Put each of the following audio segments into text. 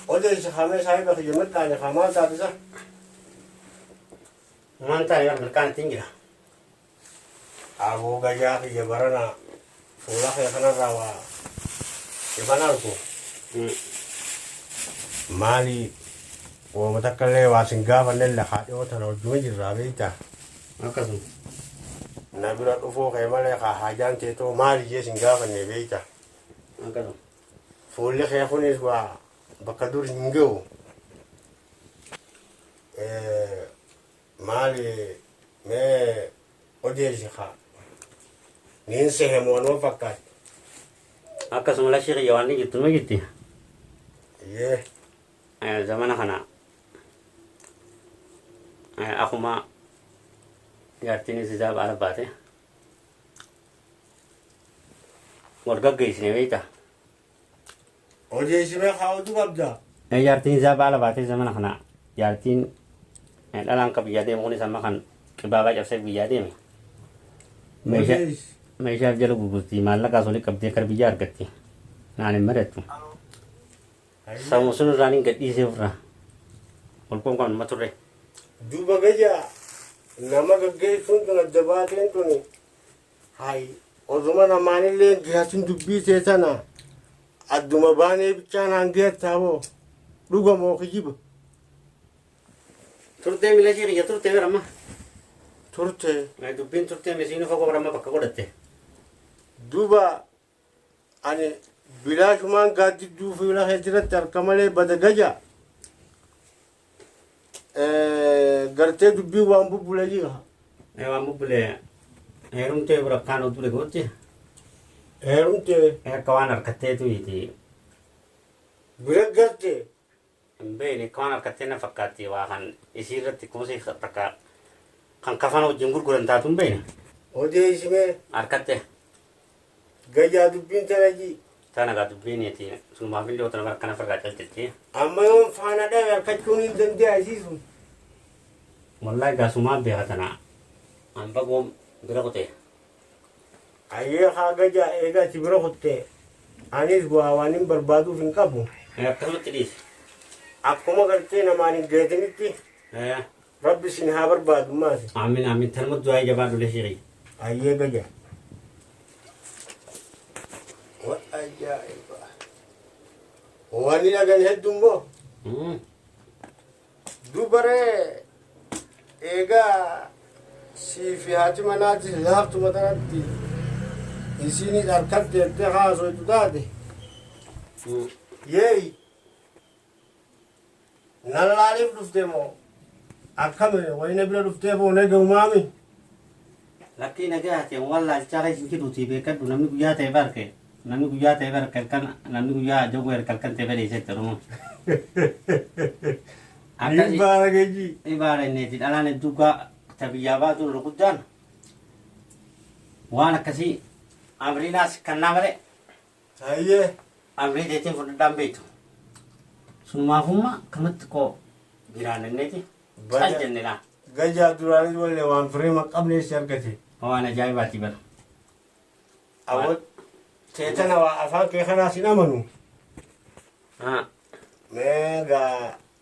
Odeessi hamee saahiba kiyya mirqaane hamaa taasisa. Maantaa yoo mirqaan ittiin jira. Aboo gajaa kiyya barana fuula kee kanarraa waa ifan argu maali wooma takka illee waa sin gaafanne illee haa dhiyoo tana wajjuma jirraa beektaa Akkasuma. na bira dhufuu kee malee haa haajaan teetoo maali jee sin gaafanne beektaa Akkasuma. fuulli kee kunis waa bakka dur hin ga'u Eh, Maali mee odeessi kaa. Niin sehe moo anuma fakkaatti. Akkasuma lashii kiyya waan ni jirtu nu jirti. Yee. Eh, Zamana kana eh, akkuma jaartiinis isaa baala baate wal gaggeessine beektaa. Odeessimee kaa'utu qabda. Mee jaartiin isaa baala baatee zamana kana jaartiin eh, dhalaan ka biyyaa deemu kunis amma kan qibaabaa cabsee biyyaa deeme. Meeshaa Odees. meeshaaf jala gurgurti maallaqaas olii qabdee kar biyyaa argatti. Naan hin madattu. Sammuu sun irraan hin gadhiisee ofirraa. Olkoon kan nama turre. Duuba gajaa nama gaggeessuun tun adda baateen tuni Hay oduma namaanillee hin gihatin dubbii tee tana adduma baanee bichaa naan gihattaa boo dhuga moo kijiba Turtee miila ishee kiyya turtee bira amma. turte Dubbiin turtee misiinuu fagoo bira amma bakka godhatte. duba Ani bilaashumaan gaaddidduu fuula kee jiratti harka malee bada gaja. Gartee dubbii waan bubbule jiga. Ee waan bubbule heerumtee burakkaan oduu dhagootti. Heerumtee. Akka waan harkatteetu iti. Bira garte. Hin beeyne kaan harkattee na fakkaatti waa kan isii irratti kuusii takka kan kafana wajjin gurguran taatu hin beeyna. Odeeysi mee. Harkattee. Gayyaa dubbiin tana jii. Tana gaa dubbiin iti sunumaaf illee otana bara kana firraa calcilti. Amma yoon faana dhabe harkachuun hin dandeeya isii sun. Wallahi gaa sumaa beeka tana an bagoom bira kutee. Ayyee kaa gajaa eega ati bira kutte anis bu'aa waanin barbaaduuf hin qabu. Ee akkasumatti dhiisi. Akkuma gartee namaan hin geetinitti Ee. rabbi isin haa barbaadu maati. Aamiin aamiin tanuma du'aayii jabaadhu leshii kiyya. Ayyee gaja. Wa ajaa'iba. Wani dhagan hedduu immoo Mm. Dubaree eegaa sii fi haati manaati laaftu matanatti isiinii dharkatti jettee haasoytu taate yeey nan laaliif dhufte moo akkami wayina bira dhuftee boonee ga'umaami. Lakkii nagayati an wan laalchaa keessa hin jiruutii beekadhu namni guyyaa ta'e barke namni guyyaa ta'e barke halkan namni guyyaa jogoo erga halkan ta'e badee jette oromoon. Akkasi Dhiibbaa rageejii. ibaara inneeti dhalaan hedduu gaa ta biyyaa baatu irra guddaan waan akkasii amriinaas kannaa malee Hayyee. Amrii teetiin fudhadhaan beektu. Sunumaafummaa kamatti koo jiraananneeti cal jenne laa. Gajaa duraanis wallee waan fireema qabnee si argate. Waan ajaa'ibaati bara. Awwa teetana waa afaan kee kanaas hin amanu. Mee gaa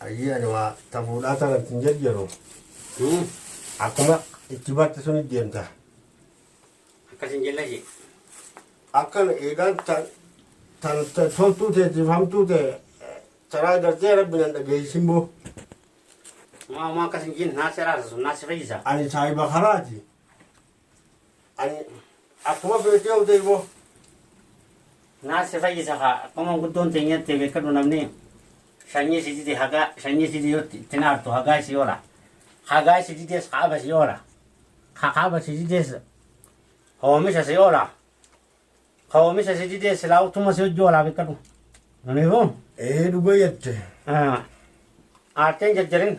Ayyii ani waa ta fuudhaa tana itti hin jarjaru. Hmm. Akkuma itti barte sun itti deemta. Akkas hin jella ishee. Akkan eegaan tan tan tan toltuu teetiif hamtuu ta'e eh, taraa gartee rabbi nan dhageessisin boo. Maa maa akkas hin jenne naasi araarsa sun naasi fayyisa. Ani saahiba karaati. Ani akkuma feete yoo ta'e immoo naa si fayyisa haa akkuma guddoon teenyatti beekadhu namni shanyii si dide hagaa shanyii si dide itti naartu hagaa si oola hagaa si dides kaaba si oola ka kaaba si dides hoomisha si oola ka hoomisha si dides silaa utuma si hojii oolaa beekadhu. Namiifuu? Ee dhuga jette. Aarteen jajjarin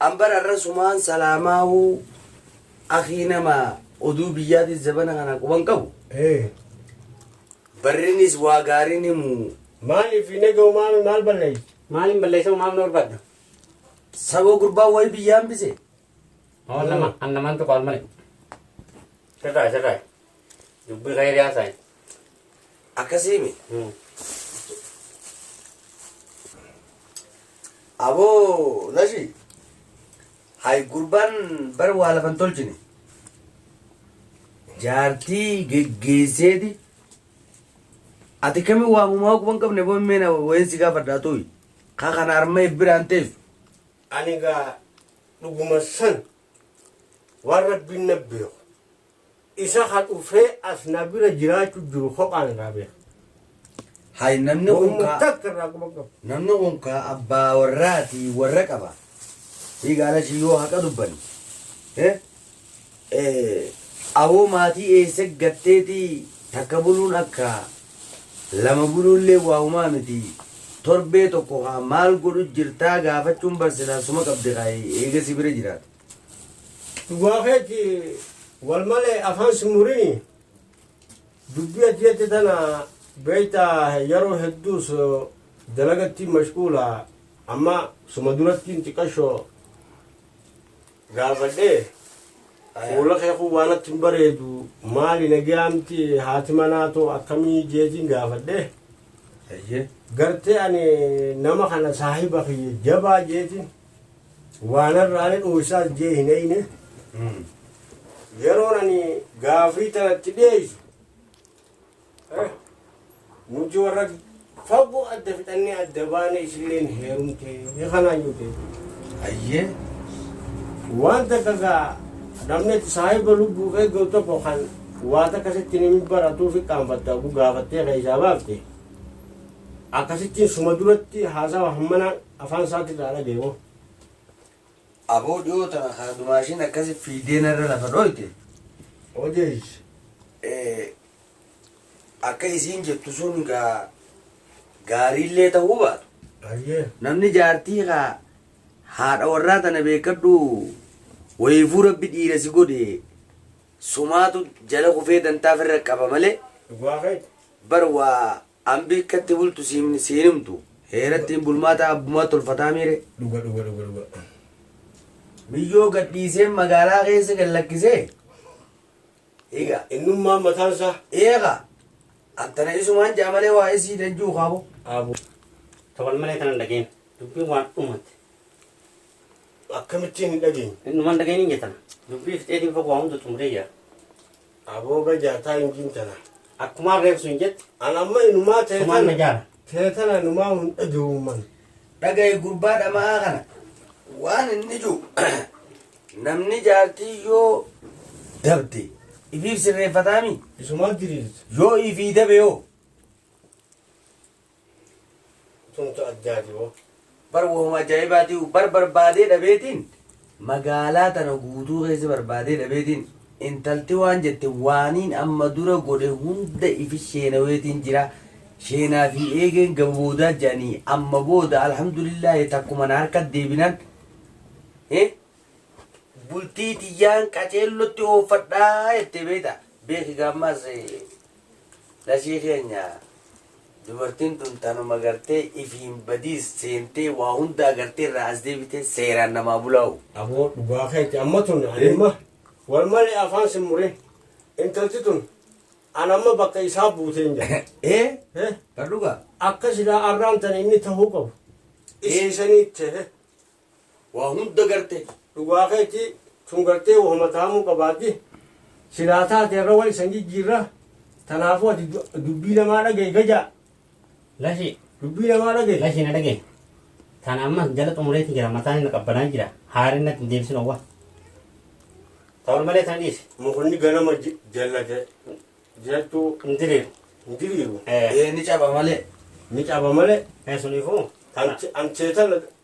An bar arra sumaan salaamaahu akhii nama oduu biyyaatis zabana kana quban qabu Ee. barrinis waa gaariin himu Maaliif hin egaa umaame maal balleessi? Maaliin balleessa umaamni barbaadda? saboo gurbaan wayi biyya hambise Hoo nama an namaan tokko al malee. Sirraa sirraa dubbii kayrii haasaayi. Akkasiimi. Aboo nashi hay gurbaan bar waa lafan tolchine jaartii geggeesseeti ati kami waamumaa quban qabne boo meena wayin si gaafadhaa tuyi kaa kana arma ebbiraan teessu Ani gaa dhuguma san waan Rabbiin na beeku, isa ka dhufee as na bira jiraachu jiru kophaan irraa beeka. Hay namni kun Wamma kaa takka irraa quba qabu. namni kun kaa abbaa warraati warra qaba. Hii gaalashi yoo haqa dubbanne. Eh? Eh, Awoo maatii eessa gatteeti takka buluun akka lama buluullee waa humaa miti torbee tokko kaa maal godhu jirtaa gaafachuun bar silaa suma qabdi kaa eega si bira jiraata. Dhugaa keetti wal malee afaan si murini dubbii ati jette tana beekta yeroo hedduus dalagatti mashquula amma suma durattiin xiqqashoo gaafadhee fuula kee kun waan natti hin bareedu maali nagaa miti haati manaa too akkamii jeetiin gaafadhee Eeyyee. gartee ani nama kana saahiba kiyya jabaa jeetiin waan irraani dhuunsaas jee hin eeyne Mm. yeroon ani gaafii tanatti dhiyeessu Nuti warra fagoo adda fixannee adda baane isilleen heerumtee kanaan jute. Ayyee. Waan takka gaa namni itti saahiba lubbuu eeggatu tokko kan waa takka sitti nimi baratuu fi qaanfatta oguu gaafattee keessaa baafte. Akkasittiin suma duratti haasawa hammanaa afaan isaatti irraa dhageemoo. Aboo dhiyoo tana kaa dumaashiin akkasi fiigdee narra lafa dhooyte odeys akka isiin jettu sun gaa gaariillee ta'uu baatu. Ayyee. Namni jaartii kaa haadha warraa tana beekadhu wayiifuu rabbi dhiira si godhe sumaatu jala kufee dantaa firra qaba malee Dhugaa keeti. bar waa Ambi akka itti bultu si himni si hin himtu heera ittiin bulmaataa abbumaa tolfataamii ree. Dhuga dhuga dhuga dhuga. Miyyoo gad dhiisee magaalaa keessa gad lakkisee Eega. Innummaan mataan isaa. Eega. Attana isumaan ja'a malee waa isii danjuu kaabo. Abu. Tawal malee tanan dhageen. Dubbiin waan dhumate. Akkamittiin hin dhageenye. Innumaan dhageen hin jetana. Dubbii fixeetiin fagoo waa hunda xumuree jira. Aboo bajaa taa injiin tana. Akkumaan reef sun jette. An amma inumaa tee Sumaan tana. najaara. Tee tana inumaa hun dhagewumman. Dhagaye gurbaa dhama'aa kana. Waan inni jiru namni jaartii yoo dabde ifiif sirreeffataami Isumaa diriirtu. yoo ifii dabe yoo Tumtu addaati boo. Bar wahuma ajaa'ibaati bar barbaadee dhabeetiin magaalaa tana guutuu keessa barbaadee dhabeetiin intalti waan jette waaniin amma dura godhe hunda ifi sheenaweetiin jira sheenaa fi eegeen gaba boodaa jedhanii amma booda alhamdulillaahi takkuma na harka deebinan eh, bultii tiyyaan qaceellotti ooffadhaa jettee beekta beeki gaammaas eh, Lashee keenya dubartiin tun tanuma gartee ifiin badiis seentee waa hunda agartee irraa as deebitee seeraan namaa bulaa hoo. Aboo dhugaa keeti amma tun ani amma wal malee afaan sin murin intalti tun an amma bakka isaa buuteen jira. Ee Eh, bar dhugaa. Akka silaa arraan tana inni tahuu qabu. Isii sanii ta'e. Waa hunda garte. Dhugaa keeti tun gartee wahuma tahamuu qabaatti silaa taate irra wan isan jijjiirra tanaafuu ati dubbii namaa dhagahi gajaa. Lashi. Dubbii namaa dhagahi. Lashi na dhagahi. Tan amma jala xumureeti jira mataan inni qabbanaa jira haarin natti hin deebisin owwa. Ta'ul malee tan dhiisi. Mukni ganama jallate jechuu hin diriiru. Hin diriiru. Ee ni caba malee. Ni caba malee. Ee suniifuu. Amcheetala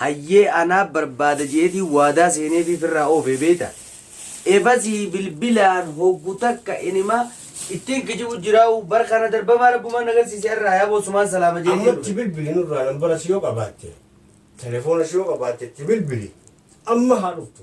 Hayyee anaa barbaada je'eetiin waadaa seeneefii firraa oofee beeyta. Efasii bilbilaan hoggu takka inima ittiin kijibu jiraawuu bar kana darbamaa rabbumaan nagarsiise arraa yaaboo sumaan salaama je'eetiin Amma dhufe. itti bilbili nurraa nambara si yoo qabaatte telefoonas yoo qabaatte itti bilbili amma haa dhuftu.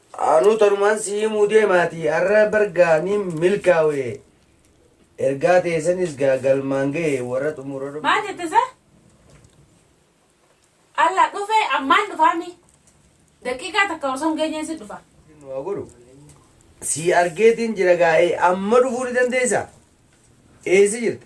Anuu tanumaan sii himuu deemaatii arra bar gaa nin milkaawe ergaa teessanis gaa galmaan gahe warra xumura Maal rabbii jette sa? Alla dhufe ammaan dhufaami. Daqiiqaa takka osoo hin geenyeen si dhufa. nu haa godhu sii argeetiin jira gaa'ee amma dhufuu ni dandeessa eessa jirta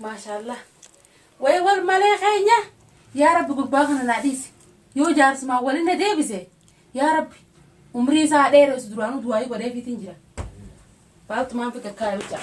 Maashaallah. Way war malee keenya. Yaa Rabbi gurbaa kana naa dhiisi. Yoo jaarsumaan waliin na deebise. Yaa Rabbi umrii isaa haa dheeressu duraanuu du'aayii godheefiitiin jira. Baaltumaan fi kakkaaya bichaa.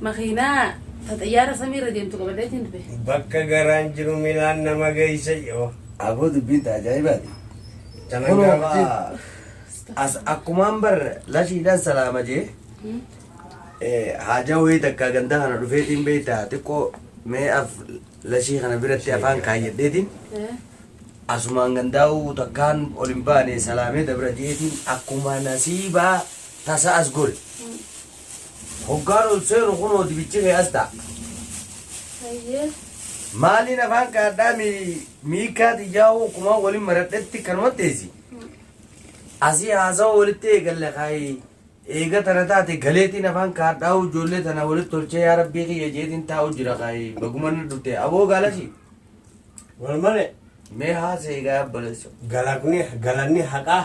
Makiinaa ta xayyaara samii irra deemtu qabadheetiin dhufe. Bakka garaan jiru milaan nama geeysa yoo. Aboo dubbiin ta ajaa'ibaati. Kunoo kaa as akkumaan bar lashiidhaan salaama jee haajaa wayii takka gandaa kana dhufeetiin beeyta xiqqoo mee af lashii kana biratti afaan kaayyadheetiin asumaan gandaa'uu takkaan ol hin baane salaamee dabra jeetiin akkuma nasiibaa tasa as gore. Hoggaan ol seenu kunoo dibichi kee as ta'a. Hayyee. Maaliin afaan kaadhaa miikaa xiyyaa'uu kumaa waliin maradhetti kanuma teessi. Asii haasawaa walitti eegalle kaayee eega tana taate galeetiin afaan kaadhaa ijoollee tana walitti tolchee yaa rabbii kiyya jeetiin taa'u jira kaayee bagumanni dhufte aboo gaalashi. Wal malee. Mee haasa eegaa balleessu. Galanni haqaa.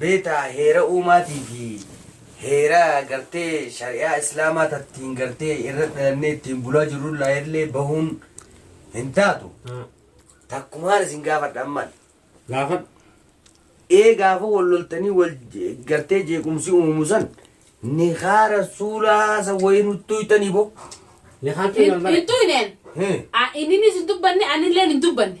Beeta heera uumaatii fi heera gartee shari'aa islaamaa tattiin gartee irra dhalannee ittiin bulaa jirrullaa illee bahuun hin taatu takkumaan isin gaafadha amman Gaafadhu. ee gaafa wal loltanii wal je- gartee jeequmsi uumamu san nikaa rasuulaa san wayii nutti hoytanii bo Nikaan kee hin hin bara. tuynen Hee. inninis hin dubbanne anilleen hin dubbanne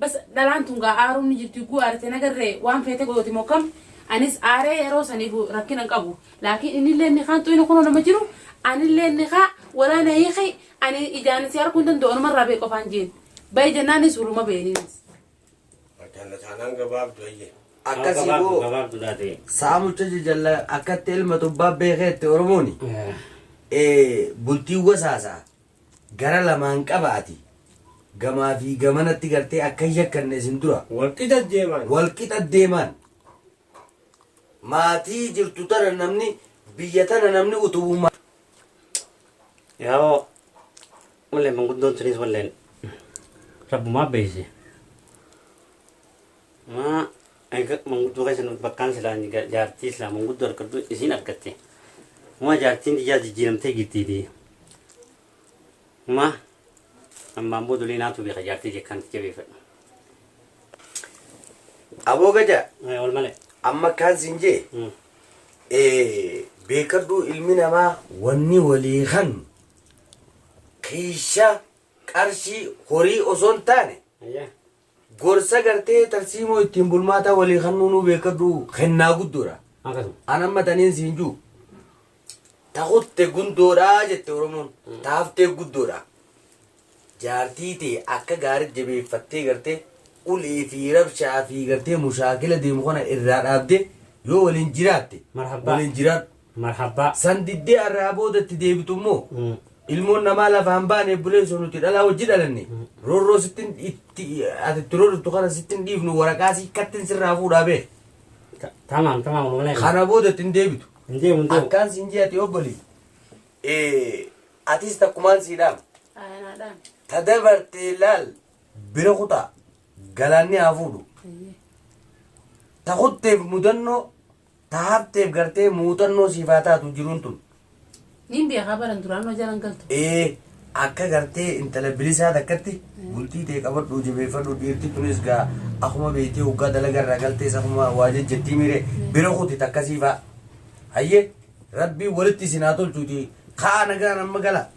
Bas dhalaan tun gaa aaruun ni jirti ugguu aarite hin agarre waan feete gooti moo kam anis aaree yeroo saniifu rakkina hin qabu laakiin innilleen nikaan xuyni kunoo nama jiru anilleen nikaa walaa na hiiki ani ijaan si arguu hin danda'u anuma irraa bahi qofaan jeen bahi jennaanis huluma beeniinis. Jalla taanaan gabaabdu ayyee. Akkasii Gabaabdu boo gabaabdu taate. saamucha jajalla akkatti ilma tubbaa beekeetti Oromooni eh, bultii wasaasaa Gara lamaan qaba ati. Gamaa fi gamanatti gartee akka hin yakkanne isin dura. Wal qixa deemaan. Wal qixa deemaan. Maatii jirtu tana namni biyya tana namni utubu ma. Yaa'oo wallee manguddoon tunis walleen rabbumaa beeyse. Maa. Eega manguddoo keessa nuti bakkaan silaa inni ga- jaartii silaa manguddoo argadhu isiin argatte. Uma jaartiin tiyyaa jijjiiramtee giddiiti. Uma ammaan boodolee naatu beeka jaartii jekkaan itti jabeeffadhu. Aboo gadaa Eh, Wal malee. amma kaan siin jee Mm. eh, beekadhuu ilmi namaa wanni walii kan kiisha qarshii horii osoo hin taane Ayyaa. Gorsa gartee tarsiimoo ittiin bulmaataa walii kannuu nuu beekkadhu kennaa guddoodha. Akkasuma. An amma taniin siin juu ta kutte gundoodha jette Oromoon ta haftee guddoodha. Jaartii tee akka gaarii jabeeffattee gartee ulee fi rabshaa fi gartee mushaakila deemu kana irraa dhaabdee yoo waliin jiraatte Marhabbaa. waliin jiraadhu. Marhabbaa. San diddee arraa booda itti deebitu immoo ilmoon namaa lafaa hin baane obboleessoo nuti dhalaa wajji dhalanne roorroo sittin itti ati itti roorritu kana sittin dhiifnu waraqaa sii kattin sirraa fuudhaa bee Ta- Tamaam tamaam wallahi. kana booda itti hin deebitu Hin deemu hin deemu. akkaan siin jee ati obboli Eh, atis takkumaan siidhaam Ayanaadhaan. ta dabartee laal bira kutaa galaanni haa fuudhu ta kutteef mudannoo Ta hafteef gartee muuxannoo siif haa taatu jiruun tun. Niin beekaa baran duraan hojjaan an galtu. Ee akka gartee intala bilisaa takkatti bultii tee qabadhu jabeeffadhu dhiirti tunis gaa akuma beektee hoggaa dalaga irraa galtees akuma waa jejjettii miire bira kuti takkasii fa'a. Hayyee rabbii walitti isin haa tolchuuti ka'aa nagaan amma gala.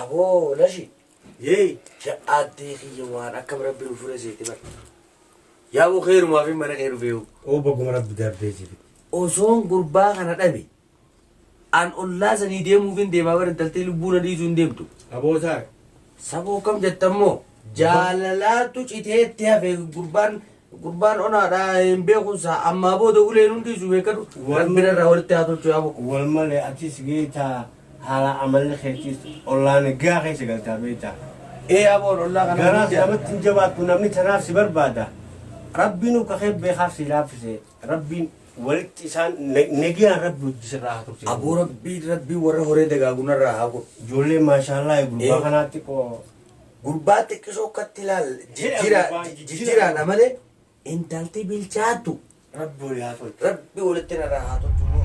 Aboo lashi yee ya addee kiyya waan akkam rabbi nu fure seete bar yaa boo keerumaa fi mana kee dhufeehu Oo baguma rabbi darbee si fide. osoon gurbaa kana dhabe an ollaa sanii deemuuf hin deemaa bar intaltee lubbuu na dhiisuu hin deemtu Aboo saare. saboo kam jettammoo jaalalaatu citeetti hafe gurbaan Gurbaan onaadha hin beekun isaa ammaa booda ulee nun dhiisu beekadhu rabbi narraa walitti haa tolchu yaa bokkuu. Wal malee atis beektaa haala amalli keetis ollaan egaa keessa galtaa beektaa. Ee yaa boon ollaa kana. Garaa si namatti hin jabaattu namni tanaaf si barbaada. Rabbiin uka kee beekaaf si laaffise rabbiin walitti isaan negiyaan rabbi wajji sirraa haa tursiisu. Aboo rabbii rabbii warra horee dagaagu narraa haa godhu. Ijoollee maashaallaa gurbaa kanaatti qoo. Gurbaa xiqqisoo katti laal jijjiraadha malee intalti bilchaattu rabbi walitti narraa haa tolchu moo